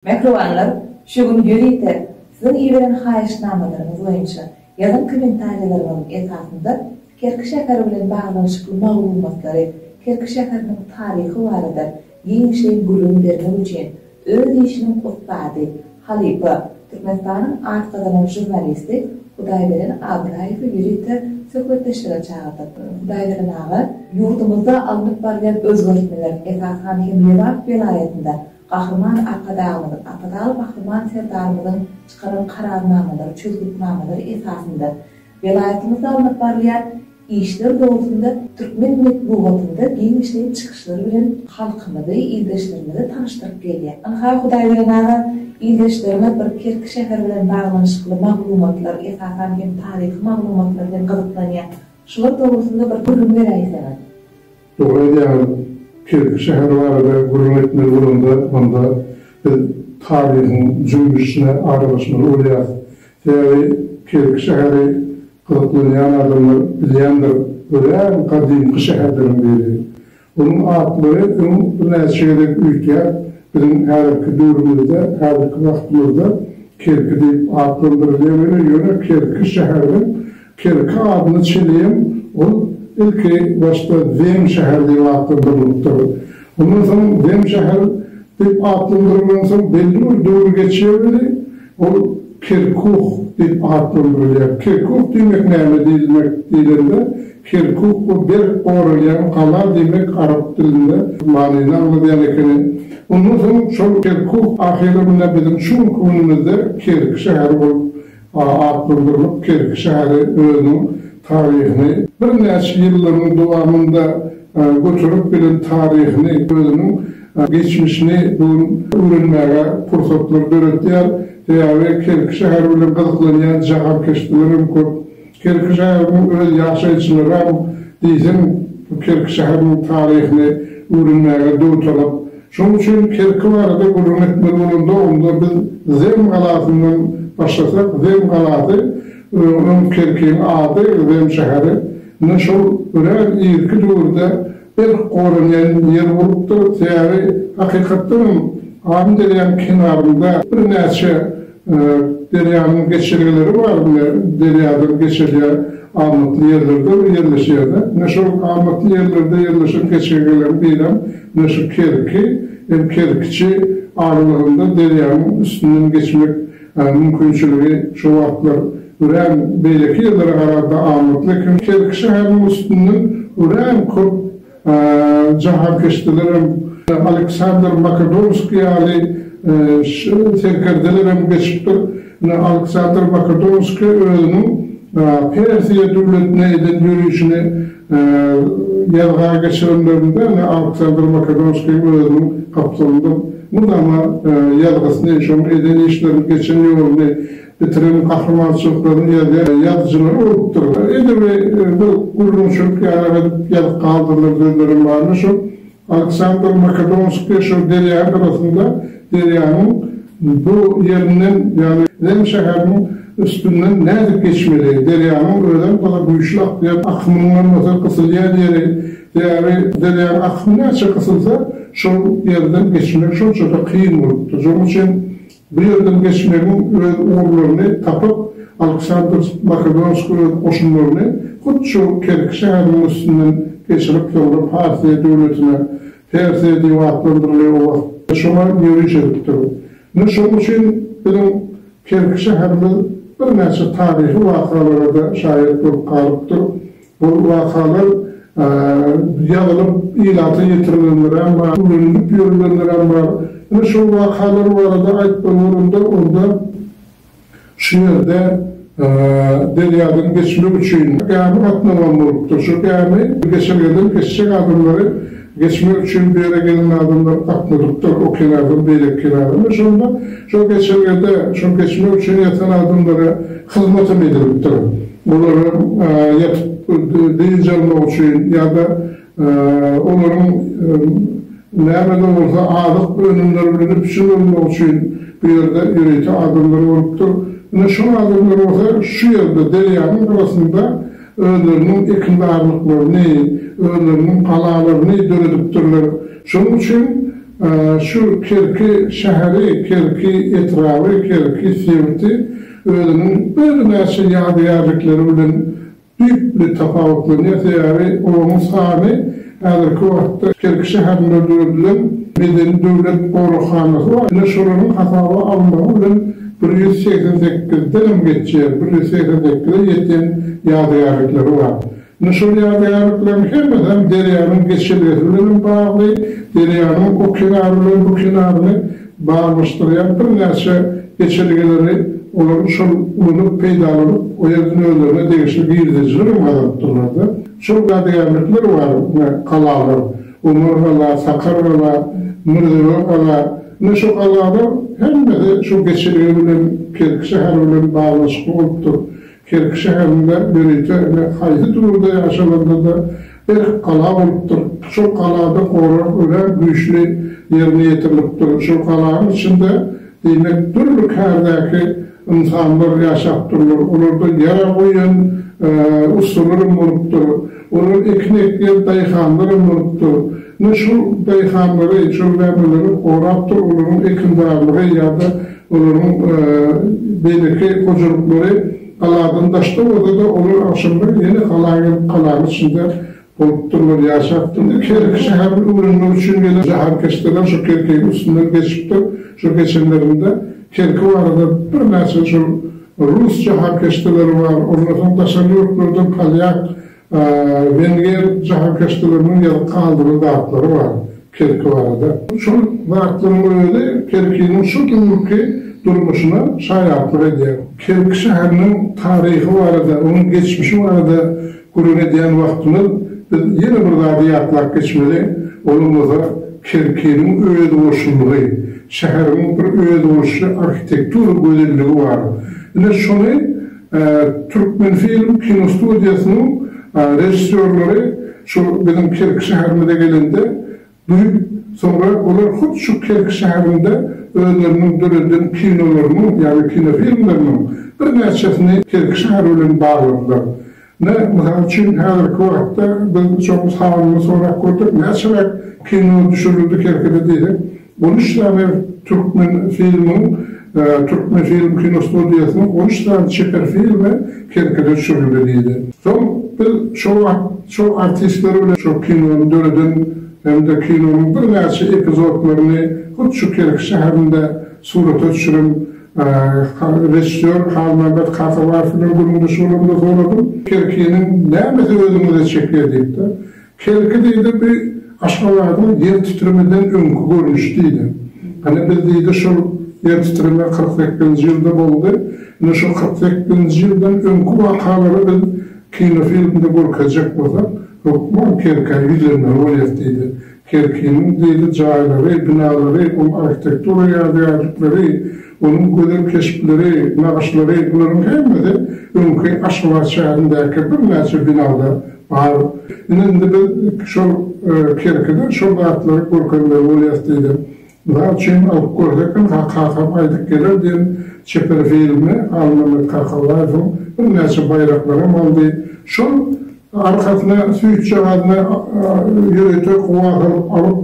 Mähribanlar, şu gün ýörite Siziň iberen haýyştnamalaryňyz boýunça ýazan kommentariýalaryňyzyň esasynda Kerki şäheri bilen baglanyşykly maglumatlary, Kerki şäheriniň taryhy barada giňişleýin gürrüň bermek üçin öz işiniň ussady, halypa, Türkmenistanyň at gazanan žurnalisti Hudaýberen Abraýewi ýörite söhbetdeşlige çagyrdyk. Hudaýberen aga, ýurdumyzda alnyp barylýan özgertmeler, esasan hem Lebap welaýatynda Gahryman Arkadagymyz, Arkadagly Gahryman Serdarymyzyň çykaran Kararnamalary, çözgütnamalary esasynda welaýatymyzda alnyp barylýan işler dogrusynda türkmen metbugatynda giňişleýin çykyşlar bilen halkymyzy, ildeşlerimizi tanyşdyryp gelýär. Ynha, Hudaýberen aga, ildeşlerimiz bir Kerki şäheri bilen baglanyşykly maglumatlar, esasan hem taryhy maglumatlar bilen gyzyklanýar. Şular dogrusynda bir gürrüň beräýseňiz. Dogry aýdýaňyz, Kerki şäher barada gürrüň etmeli bolanda onda biz taryhyň jümmüşine aralaşmaly bolýarys. Sebäbi Kerki şäheri gyzyklanýan adamlar bilýändir, örän gadymky şäherleriň biri. Onuň atlary öň birnäçe gezek üýtgäp, biziň häzirki döwrümizde, häzirki wagtymyzda Kerki diýip atlandyrylýar weli, ýöne Kerki şäheriniň Kerki adyna çeneyem ol ilki başda Zem şäheri diýip atlandyrylypdyr. Ondan soň Zem şäheri diýip atlandyrylan soň belli bir döwür geçýär weli, ol Kerkuh diýip atlandyrylýar. Kerkuh diýmek näme diýilmek diýlende, Kerkuh bu berk goralýan gala diýmek arap dilinde manyny aňladýan ekeni. Ondan soň şol Kerkuh ahyry mine biziň şu günki günümizde Kerki şäheri bolup Atlandyrmak Kerki şäheri özüniň taryhyny, birnäçe ýyllaryň dowamynda göterip gelen taryhyny, özüniň geçmişini bu gün öwrenmäge pursatlar döretýär. Sebäbi Kerki şäheri bilen gyzyklanýan jahankeşdeler hem köp. Kerki şäheriniň öz ýaşaýjylaram diýseň bu Kerki şäheriniň taryhyny öwrenmäge döwtalap. Şonuň üçin Kerki barada gürrüň etmeli bolanda onda biz Zem galasyndan başlasak, Zem galasy, öň Kerkiň ady, Zem şäheri, ine şol örän irki döwürde Berk goranýan ýer bolupdyr, sebäbi hakykatdan hem Amyderýanyň kenarynda birnäçe derýanyň geçelgeleri bar, ine, derýadan geçelge amatly ýerlerde ýerleşýärdi. Ine, şol amatly ýerlerde ýerleşen geçelgeleriň birem, ine, şu Kerki hem Kerkiçi aralygynda derýanyň üstünden geçmek Mümkinçiligi şo wagtlar örän beýleki ýerlere garanda amatly eken. Kerki şäheriniň üstünden örän köp jahankeşdelerem, Aleksandr Makedonskiý ýaly serkerdelerem geçipdir. Ine, Aleksandr Makedonskiý özüniň Persiýa döwletine eden ýörişini Ýazga geçirenlerinde ine Aleksandr Makedonskiý özüniň gapdalynda mydama ýazgysyny, şonuň eden işlerini, geçen ýoluny, bitiren gahrymançylyklaryny ýazýar. Ýazyjylary urupdyr. Edebi bir gürrüňçilik ýaly edip ýazyp galdyrlan sözlerem bar. Ine şol Aleksandr Makedonsk Peşew derýa gyrasynda derýanyň bu ýerinden, ýagny Ren şäheriniň üstünden nädip geçmeli? Derýanyň özem gaty güýçli akýan akymynyň bolmasa gysylýan ýeri, sebäbi derýanyň akymy näçe gysylsa, şol ýerden geçmek şonça-da kyn bolupdyr. Şonuň üçin Bu ýerden geçmegiň öz ugurlaryny tapyp, Aleksandr Makedonskiý öz goşunlaryny hut şu Kerki şäheriniň üstünden geçirip, soňra Parfiýa döwletine, Persiýa diýip atlandyrylýan oba, şoňa ýöriş edipdir. Ine, şonuň üçin biziň Kerki şäherimiz birnäçe taryhy wakalara-da şaýat bolup galypdyr. Bu wakalar ýazylyp ilata ýetirilenler hem bar, öwrenilip ýörülenler hem bar. Ine şol wakalar barada aýtmaly bolanda, onda şu ýerde derýadan geçmek üçin gämi gatnawan bolupdyr. Şu gämi geçelgeden geçjek adamlary Geçmek üçin bu ýere gelen adamlar akmudukdyr, o kenardan beýleki kenara we şonda şol geçelgede şol geçmek üçin ýatan adamlara hyzmat hem edilipdir. Olar hem ýatyp dynç almak üçin ýa-da olaryň näme-de bolsa azyk önümleri bilen üpjün bolmak üçin bu ýerde ýörite adamlar bolupdyr. Ine şol adamlar bolsa şu ýerde derýanyň gyrasynda özleriniň ekinzarlyklaryny, özleriniň galalaryny döredipdirler. Şonuň üçin şu Kerki şäheri, Kerki etraby, Kerki sebiti özüniň birnäçe ýadygärlikleri bilen düýpli tapawutlanýar, sebäbi olaryň sany Häzirki wagtda Kerki şäherinde döredilen Medeni döwlet goraghanasy bar. Ine, şolaryň hasaba alynmagy bilen bir ýüz segsen sekizden hem geçýär, bir ýüz segsen sekize ýeten ýadygärlikleri bar. Ine, şol ýadygärlikleriň hemmesi hem derýanyň geçelgesi bilen hem bagly, derýanyň o kenary bilen bu kenaryny baglanyşdyrýan birnäçe geçelgeleri olar şol ulanyp, peýdalanyp, o ýerden özlerine degişli girdejiler hem gazalypdyrlar-da. Şol dadygärlikler bar, ine, galalar, Omargala, Sakargala, Mürzebegala, ine, şu galalar hemmesi şu geçelge bilen, Kerki şäher bilen baglanyşykly bolupdyr. Kerki şäherinde ýörite, ine, haýsy döwürde ýaşalanda-da, berk gala bolupdyr. Şol galada gorag örän güýçli ýerine ýetirilipdir. Şol galanyň içinde, diýmek, dürli kärdäki, Ynsanlar ýaşapdyrlar, olardan ýara goýan ussalaram bolupdyr. Olar ekin ekýän daýhanlaram bolupdyr. Ine, şol daýhanlary, şol mämeleri gorapdyr olaryň ekinzarlygy ýa-da olaryň beýleki hojalyklary galadan daşda bolsa-da, olar agşamlaýyn ýene gala gelip, galanyň içinde Bolupdyrlar, ýaşapdyr. Indi her iki şäherden öwrenmek üçin gelen jahankeşdeler şo Kerkegiň üstünden geçipdir. Şo geçenlerinde Kerki barada birnäçe şol rus jahankeşdeleri bar, ondan soň daşary ýurtlardan polýak, wenger jahankeşdeleriniň ýazyp galdyran zatlary bar. Kerki barada. Şol zatlaryň özi Kerkiniň şu günki durmuşyna şaýatlyk edýär. Kerki şäheriniň taryhy barada, onuň geçmişi barada gürrüň edýän wagtymyz biz ýene bir zady ýatlap geçmeli, olam bolsa Kerkiniň özboluşlylygy, şäheriň bir özboluşly arhitektura gözelligi bar. Ine şony Türkmenfilm kinostudiýasynyň režissýorlary şu biziň Kerki şäherimize gelende duýup, soňra olar hut şu Kerki şäherinde özleriniň döreden kinolarynyň, ýagny kinofilmleriniň birnäçesini Kerki şäher bilen bagladylar. Ine, mysal üçin, häzirki wagtda biz şoň sanyny sorap gördük, näçeräk kino düşürildi Kerkide diýsek, On üç sany Türkmenfilmiň Türkmenfilm kinostudiýasynyň on üç sany çeper filmi Kerkide düşürildi diýdi. Soň biz şo wagt şol artistler bilen şo kinony döreden hem-de kinonyň birnäçe epizodlaryny hut şu Kerki şäherinde surata düşüren režissýor Halmämmet Kakabaýew bilen gürrüňdeş bolamda soradym, Kerkiniň nämesi özüňize çekýär diýip-de. Hereket eýdi bu Aşgabadyň ýer titremeden öňki görnüşi diýdi. Hany biz diýdi şol ýer titreme kyrk sekkizinji ýylda boldy. Indi şo kyrk sekkizinji ýyldan öňki wakalary biz kinofilmde görkezjek bolsak, hökman Kerkä ýüzlenmeli bolýas diýdi. Kerkiniň diýdi jaýlary, binalary, ol arhitektura ýadygärlikleri, Onuň gözel keşpleri, nagyşlary, bularyň hemmesi öňki Aşgabat şäherindäki birnäçe binada bar. Ine, indi biz şol Kerkide şol zatlary görkezmeli bolýas diýdi. Mysal üçin, alyp görsek hem, Kakam aýdyp geler diýen çeper filmi Halmyrat Kakabaýewiň birnäçe baýraklary hem aldy. Şol Arkasyna süýtjagazyny ýörite howa salyp alyp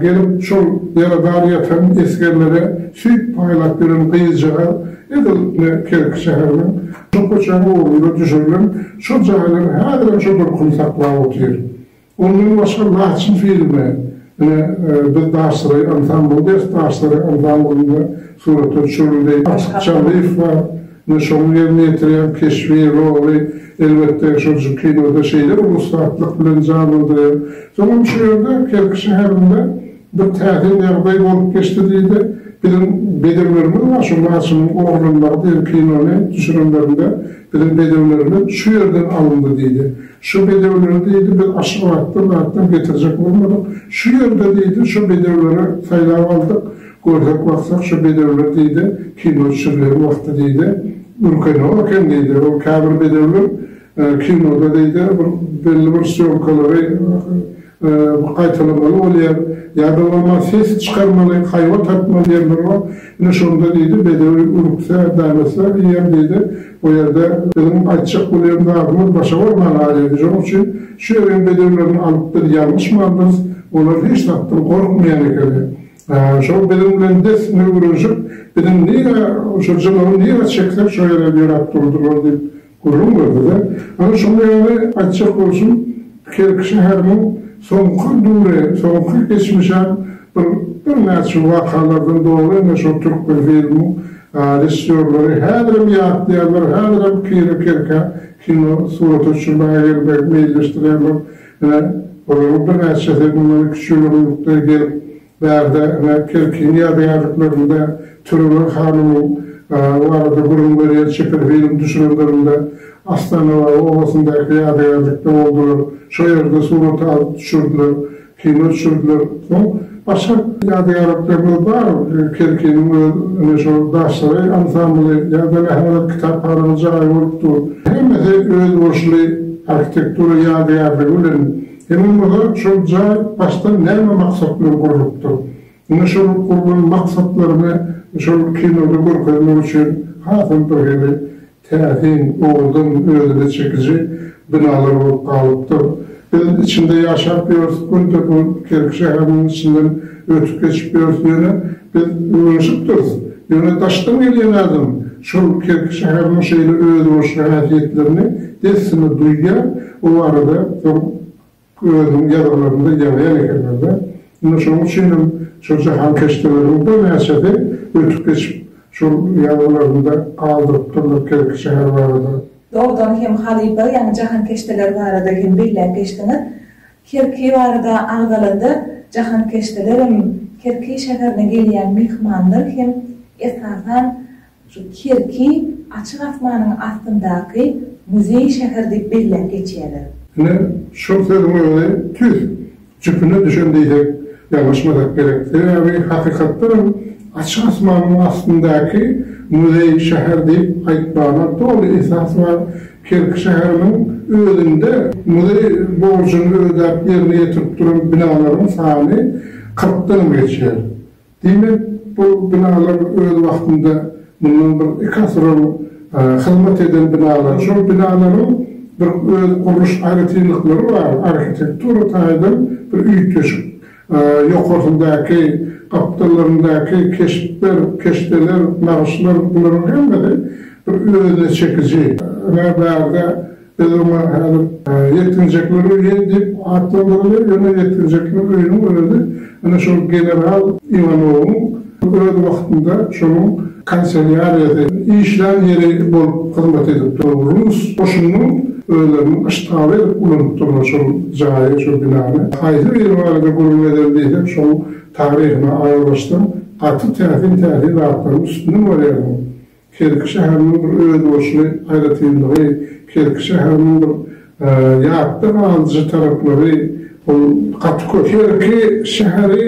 gelip, şol ýaradar ýatan esgerlere süýt paýlap ýören gyzjagaz edil ine Kerki şäheriniň şol köçäniň ugrunda düşürilen şol jaýlar häzirem şo durkuny saklap otyr. Ondan başga Laçyn filmi ine biz Daşsaray ansambly ders Daşsaray ansamblynda surata düşürildi. Aşyk Çarlyýew bar. Ine şoň ýerine ýetirýän keşbi, roly, elbetde, şol şu kinoda şeýle bir ussatlyk bilen janlandyrýar. Soňam şu ýerde, Kerki şäherinde bir täsin ýagdaý bolup geçdi diýdi. Biziň bedewlerimiz bar, şu Laçynyň oglanlary diýen kinony düşürenlerinde biziň bedewlerimiz şu ýerden alyndy diýdi. Şu bedewleri diýdi, biz Aşgabatdan zatdan getirjek bolmadyk. Şu ýerde diýdi, şu bedewleri saýlap aldyk. Görsek baksak şu bedewler diýdi, kino düşürilýän wagty diýdi, ürkenok eken diýdi. Ol käbir bedewler kinoda diýdi, bir belli bir sýomkalary gaýtalamaly bolýar, ýa-da bolmasa ses çykarmaly, haýbat atmaly ýerleri bar. Ine şonda diýdi, bedew ürkse, bälese diýýär diýdi. Bu ýerde biziň aýtjak bolýan zadymyz başa barman galýardy. Şonuň üçin şu ýeriň bedewlerini alyp biz ýalňyşmandyrys. Olar hiç zatdan gorkmaýan ekeni. Şol biziň bilen dessine güreşip, biziň nirä, şo jylawy nirä çeksek, şo ýere ýöräp durdular diýip gürrüň berdi-de, Ana, şonuň ýaly aýtjak bolsun, Kerki şäheriniň soňky döwri, soňky geçmişem bir birnäçe wakalardan doly, ine, şol Türkmenfilmiň režissýorlary häzirem ýatlaýarlar, häzirem kino Kerkä, kino surata çümmäge gelmegi meýilleşdirýärler. Ine, olaryň birnäçesi mundan iki-üç ýyl öň ýurtda gelip, bärde, ine, Kerkiniň ýadygärliklerinde Tölegül hanymyň barada gürrüň berýän çeper film düşürenlerinde Astanababa obasyndaky ýadygärlikde boldular. Şo ýerde surat alyp düşürdiler, kino düşürdiler. Soň. Başga ýadygärliklerimiz bar. Kerkiniň öz ine şol Daşsaray ansambly ýa-da Mähmudat kitaphanasynyň jaýy bolup dur. Hemmesi özboluşly arhitektura ýadygärligi bilen. Indi bolsa şol jaý başdan näme maksat bilen gurlupdyr? Ine şol gurlan maksatlaryny şol kinoda görkezmek üçin hasam birhili Täsin, owurdan, özüne çekiji binalar bolup galypdyr. Biz içinde ýaşap ýörüs, günde-gün Kerki şäheriniň içinden ötüp geçip ýörüs, ýöne biz öwrenişipdiris. Ýöne daşdan gelýän adam şol Kerki şäheriniň şeýle özboluşly häsiýetlerini dessine duýýar, o barada soň Özüniň ýazgylarynda ýazýan ekenler-de, indi şonuň üçin hem şol jahankeşdeleriniň birnäçesi ötüp geçip, şol ýazgylarynda galdyrypdyrlar Kerki şäher barada. Dogdan hem halypa, ýagny jahankeşdeler barada hem belläp geçdiňiz. Kerki barada agzalanda, jahankeşdelerem, Kerki şäherine gelýän myhmanlar hem, esasan, Şu kerki açyk asmanyň astyndaky muzeý şäher diýip belläp geçýärler. Ine, şol sözüň özi tüýs jüpüne düşen diýsek, ýalňyşmasak gerek. Sebäbi hakykatdan hem açyk asmanyň astyndaky muzeý şäher diýip aýtmagyna doly esas bar. Kerki şäheriniň özünde muzeý borjuny ödäp ýerine ýetirip duran binalaryň sany kyrkdan hem geçýär. Diýmek, bu binalar öz wagtynda mundan bir iki asyr ol hyzmat eden binalar. Şol binalaryň bir öz gurluş aýratynlyklary bar, arhitektura taýdan bir üýtgeşik. Ýokarsyndaky, gapdallaryndaky keşpler, keşdeler, nagyşlar bularyň hemmesi bir özüne çekiji. Ynha, bärde Biz oňa häzir Ýetginjekler öýi diýip atlandyrylýar, ýöne Ýetginjekler öýüniň özi ine şol general Iwanowyň öz wagtynda şonuň kanselýariýasy, işlän ýeri bolup hyzmat edip duran rus goşunynyň özleriniň yştgaby edip ulanyp durlar şol jaýy, şol binany. Haýsy biri barada gürrüň ederin diýseň, şoň taryhyna aralaşsaň, gaty täsin-täsin zatlaryň üstünde bolýar bu. Kerki şäheriniň bir özboluşly aýratynlygy, Kerki şäheriniň bir ýatda galyjy taraplary, ol gaty köp. Kerki şäheri,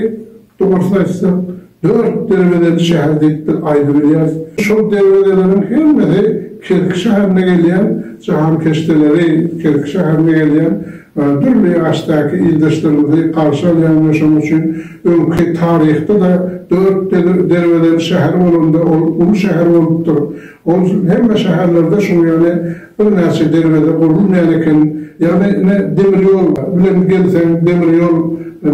dogrusyny aýtsak, dört derwezeli şäher diýip-de aýdybilýäris. Şol derwezeleriň hemmesi Kerki şäherine gelýän jahankeşdeleri, Kerki şäherine gelýän we dürli ýaşdaky ildeşlerimizi garşy alýan we şonuň üçin öňki taryhda-da dört derwezeli şäher bolanda ol uly şäher bolupdyr. Ol üçin hemme şäherlerde şuň ýaly birnäçe derweze gurulmaýan eken. Ýagny ine demir ýol bilen gelseň demir ýol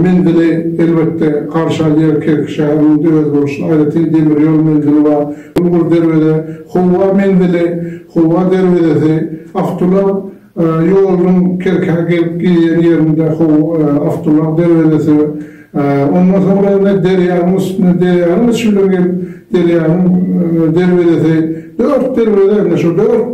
menzili elbetde garşy alýar Kerki şäheriniň de özboluşly aýratyn demir ýol menzili bar. Uly bir derweze Hywa menzili, Hywa derwezesi, Awtoulag, Ýoluň Kerkä gelip girýän ýerinde how awtoulag derwezesi bar. Ondan soňra indi derýanyň üstüne, derýanyň içi bilen gelip, derýanyň derwezesi, dört derweze, indi şu dört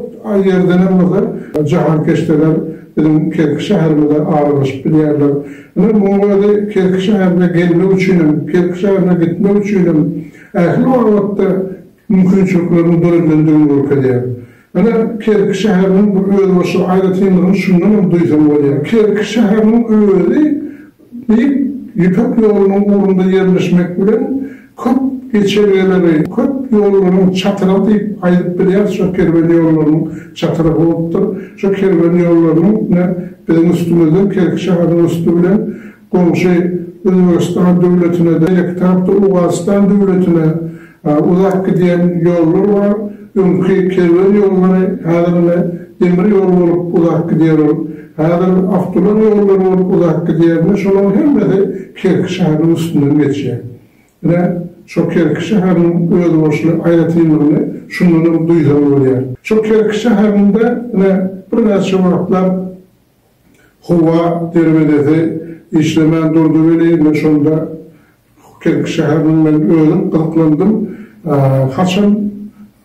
ýerdenem bolsa jahankeşdeler biziň Kerki şäherimize aralaşyp bilýärler. Ine, munuň özi Kerki şäherine gelmek üçinem, Kerki şäherine gitmek üçinem ähli babatda mümkinçilikleriň döredilendigini görkezýär. Ine, Kerki şäheriniň bu özbaşdak aýratynlygyny şundan hem duýsaň bolýar. Kerki şäheriniň özi Beýik Ýüpek ýolunyň ugrunda ýerleşmek bilen, köp geçelgeleri, köp ýollaryň çatrygy diýip aýdyp bilýäris, şol kerwen ýollarynyň çatrygy bolupdyr. Şo kerwen ýollarynyň ine, biziň üstümizden, Kerki şäheriniň üsti bilen Goňşy Özbegistan döwletine-de, ýeke tarapda Owganystan döwletine uzap gidýän ýollar bar. Öňki kerwen ýollary häzir ine demir ýol bolup uzap gidýär ol. Häzir awtoulag ýollary bolup uzap gidýär. Ine şolaryň hemmesi Kerki şäheriniň üstünden geçýär. Ine şo Kerki şäheriniň özboluşly aýratynlygyny şundanam duýsaň bolýar. Şo Kerki şäherinde ine birnäçe wagtlap Hywa derwezesi işlemän durdy welin, men şonda Kerki şäheriniň men özüm gyzyklandym. Haçan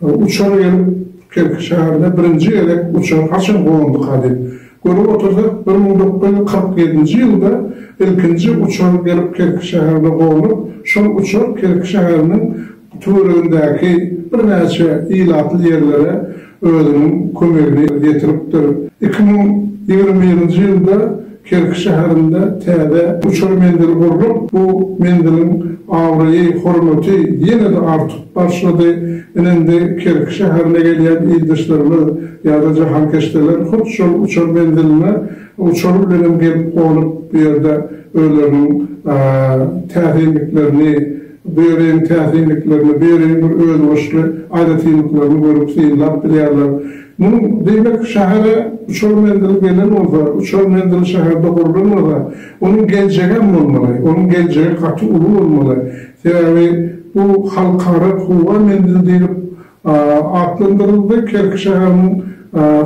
uçar gelip Kerki şäherine birinji gezek uçar haçan gonduka diýip. Görüp otyrsak, bir müň dokuz ýüz kyrk ýedinji ýylda ilkinji uçar gelip Kerki şäherine gonup, şol uçar Kerki şäheriniň Töweregindäki birnäçe ilatly ýerlere özüniň kömegini ýetiripdir. Iki müň ýigrimi birinji ýylda Kerki şäherinde täze uçar menzili gurlup, bu menziliň abraýy, hormaty ýene-de artyp başlady. Ine-indi Kerki şäherine gelýän ildeşlerimiz ýa-da jahankeşdeler hut şol uçar menziline uçary bilenem gelip gonup, bu ýerde özleriniň täsinliklerini, Böregiň täsinliklerini, böregiň bir özbaşly aýratynlyklaryny görüp, synlap bilýärler. Muň, diýmek, şähere uçar menzili gelen bolsa, uçar menzili şäherde gurlan bolsa, onuň geljegem bolmaly, onuň geljegi gaty uly bolmaly. Sebäbi bu halkara howa menzili diýlip, atlandyryldy. Kerki şäheriniň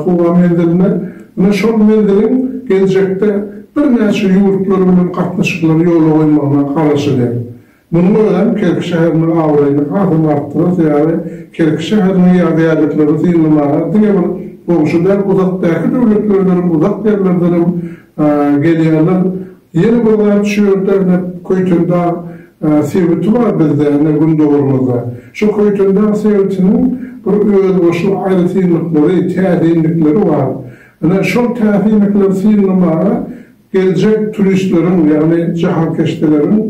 howa menziline ine şol menziliň geljekde birnäçe ýurtlar bilen gatnaşyklary ýola goýmagyna garaşylýar. Munuň özem Kerki şäheriniň abraýyny hasam artdyrar, sebäbi Kerki şäheriniň ýadygärliklerini synlamaga diňe bir goňşy däl, uzakdaky döwletlerdenem, uzak ýerlerdenem gelýärler. Ýene bir zat şu ýerde ine Köýtendag sebiti bar bizde ine gündogarymyzda. Şu Köýtendag sebitiniň bir özboluşly aýratynlyklary, täsinlikleri bar. Ine şol täsinlikleri synlamaga geljek turistleriň, ýagny jahankeşdeleriň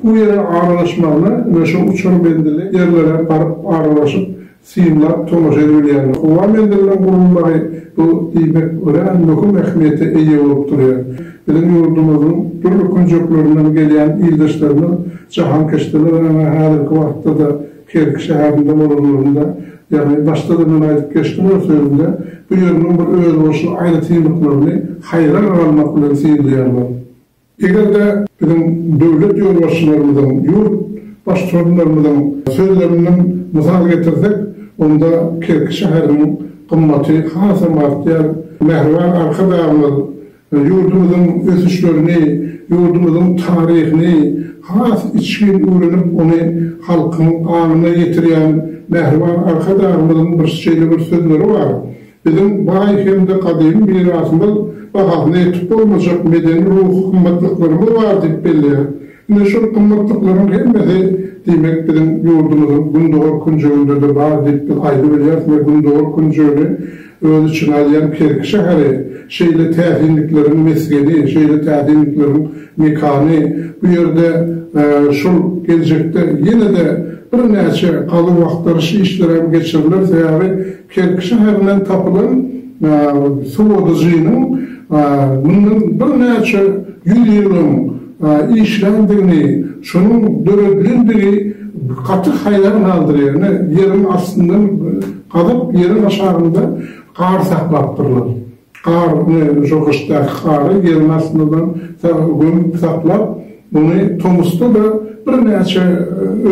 bu ýere aralaşmagyna ine şu uçar bendili ýerlere baryp aralaşyp synlap tomaşa edilýändir. Howa menziliniň gurulmagy bu diýmek örän möhüm ähmiýete eýe bolup durýar. Biziň ýurdumyzyň dürli künjeklerinden gelýän ildeşlerimiz jahankeşdeler öňe häzirki wagtda-da Kerki şäherinde bolanlarynda, ýagny başda-da men aýdyp geçdim öz sözümde, bu ýeriniň bir özboluşly aýratynlyklaryny haýran galmak bilen synlaýarlar. Eger-de biziň döwlet ýolbaşçylarymyzyň, ýurt Baştutanlarymyzyň sözlerinden mysal getirsek, onda Kerki şäheriniň gymmaty hasam artýar. Mähriban Arkadagymyz ýurdumyzyň ösüşlerini, ýurdumyzyň taryhyny has içgin öwrenip, ony halkyň aňyna ýetirýän Mähriban Arkadagymyzyň bir şeýle bir sözleri bar, Biziň baý hem-de gadymy mirasymyz, bahasyna ýetip bolmajak medeni-ruhy gymmatlyklarymyz bar diýip belleýär. Ine, şol gymmatlyklaryň hemmesi, diýmek, biziň ýurdumyzyň gündogar künjeginde-de bar diýip biz aýdybilýäris we gündogar künjegini öz içine alýan Kerki şäheri, şeýle täsinlikleriň mesgeni, şeýle täsinlikleriň mekany, bu ýerde şol geljekde ýene-de birnäçe gazuw-agtaryş işleri hem geçiriler, sebäbi, Kerki şäherinden tapylan sowadyjynyň mundan birnäçe ýüz ýyl öň işländigini, şonuň döredilendigi gaty haýran galdyrýar. Ine, ýeriň astyndan gazyp, ýeriň aşagynda gar saklapdyrlar. Gar, şo gyşdaky gary ýeriň astyndan gömüp saklap, ony tomusda-da birnäçe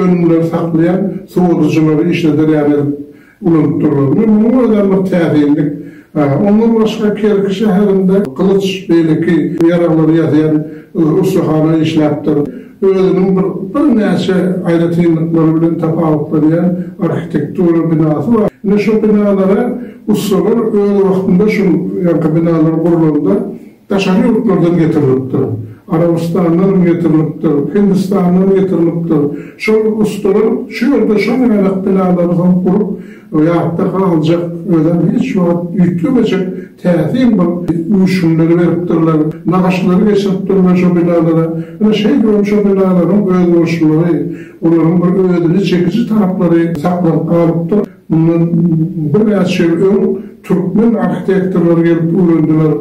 önümleri saklaýan sowadyjylary işlederýär edip ulanyp durlar. Munuň özi hem bir täsinlik. Ondan başga Kerki şäherinde gylyç, beýleki ýaraglary ýasaýan ussahana işläpdir. Özüniň bir birnäçe aýratynlyklary bilen tapawutlanýan arhitektura binasy bar. Ine şu binalara ussalar öz wagtynda şul ýaňky binalar gurlanda Daşary ýurtlardan getirilipdir. Arabystandanam getirilipdir, Hindistandan getirilipdir. Şol ussalar şu ýerde şol ýaýlak binalary hem gurup, ýatda galjak, özem hiç wagt üýtgemejek täsin bir öwüşginleri beripdirler, nagyşlary geçiripdirler şo binalara. Ine, şeýdip hem şo binalaryň özboluşlylygy, olaryň bir özüne çekiji taraplary saklanyp galypdyr. Mundan birnäçe ýyl öň türkmen arhitektorlary gelip öwrendiler,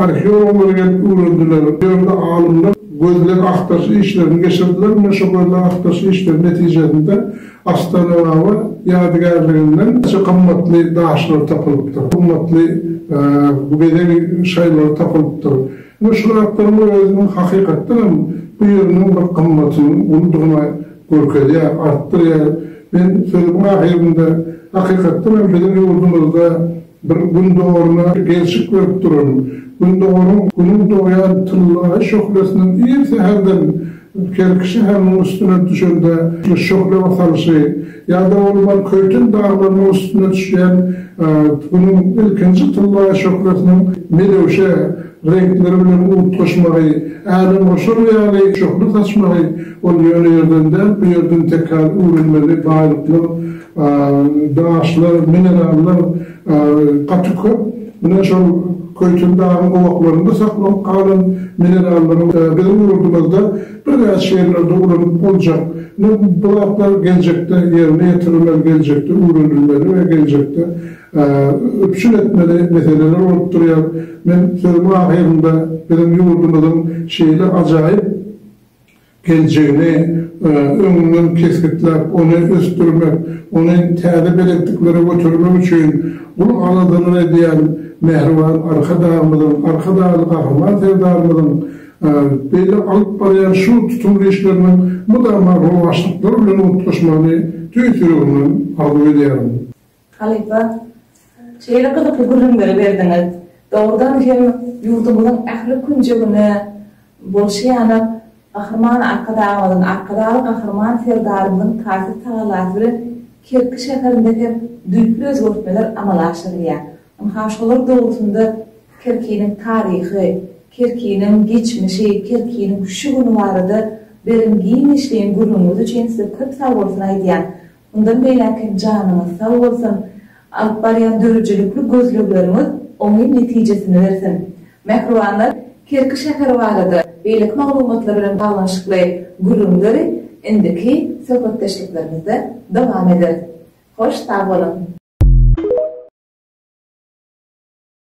arheologlar gelip öwrendiler. Bu ýerde alymlar gözleg-agtaryş işlerini geçirdiler. Mundan şo gözleg-agtaryş işleri netijesinde Astanababa ýadygärliginden birnäçe gymmatly daşlar tapylypdyr, gymmatly bezeg şaýlary tapylypdyr. Ine şu zatlaryň özüniň hakykatdan hem bu ýeriň bir gymmatynyň uludygyna Görkezýär, artdyrýar. Men sözümiň ahyrynda hakykatdan hem biziň ýurdumyzda bir Gündogaryna gelşik berip duran, Gündogaryň Günüň dogýan tyllaýy şöhlesiniň ir säherden Kerki şäheriniň üstüne düşende şöhle basalyşy ýa-da bolman Köýten daglarynyň üstüne düşýän Günüň ilkinji tyllaýy şöhlesiniň melewşe Reňkleri bilen utgaşmagy, älemgoşar ýaly şöhle saçmagy ol ýöne ýerden däl, bu ýerden tekrar öwrenmeli baýlyklar, daşlar, minerallar gaty köp. Mundan şol Köýten dagyň gowaklarynda saklanyp galan minerallaryň biziň ýurdumyzda birnäçe ýerlerde ulanyp boljak. Ine bu zatlar geljekde ýerine ýetirilmeli, geljekde öwrenilmeli we geljekde üpjün etmeli meseleler bolup durýar. Men sözümiň ahyrynda biziň ýurdumyzyň şeýle ajaýyp geljegini öňünden kesgitläp, ony ösdürmek, ony täze belentliklere götermek üçin gul aladyny edýän mähriban Arkadagymyzyň, Arkadagly Gahryman Serdarymyzyň beýle alyp barýan şu tutumly işleriniň mydama rowaçlyklar bilen utgaşmagyny tüýs ýüregimden arzuw edýärin. Halypa, şeýle gyzykly gürrüňleri berdiňiz. Dogrudan hem, ýurdumyzyň ähli künjegine bolşy ýanak Gahryman Arkadagymyzyň, Arkadagly Gahryman Serdarymyzyň taýsyz tagallasy bilen Kerki şäherinde hem düýpli özgertmeler amala aşyrylýar. Ynha, şolar dogrusynda Kerkiniň taryhy, Kerkiniň geçmişi, Kerkiniň şu güni barada beren giňişleýin gürrüňiňiz üçin size köp sagbolsun aýdýan. Mundan beýläk hem janyňyz sag bolsun, alyp barýan döredijilikli gözlegleriňiz oňyn netijesini bersin. Mähribanlar, Kerki şäheri barada beýleki maglumatlar bilen baglanyşykly gürrüňleri indiki söhbetdeşliklerimizde dowam ederis. Hoş sag boluň!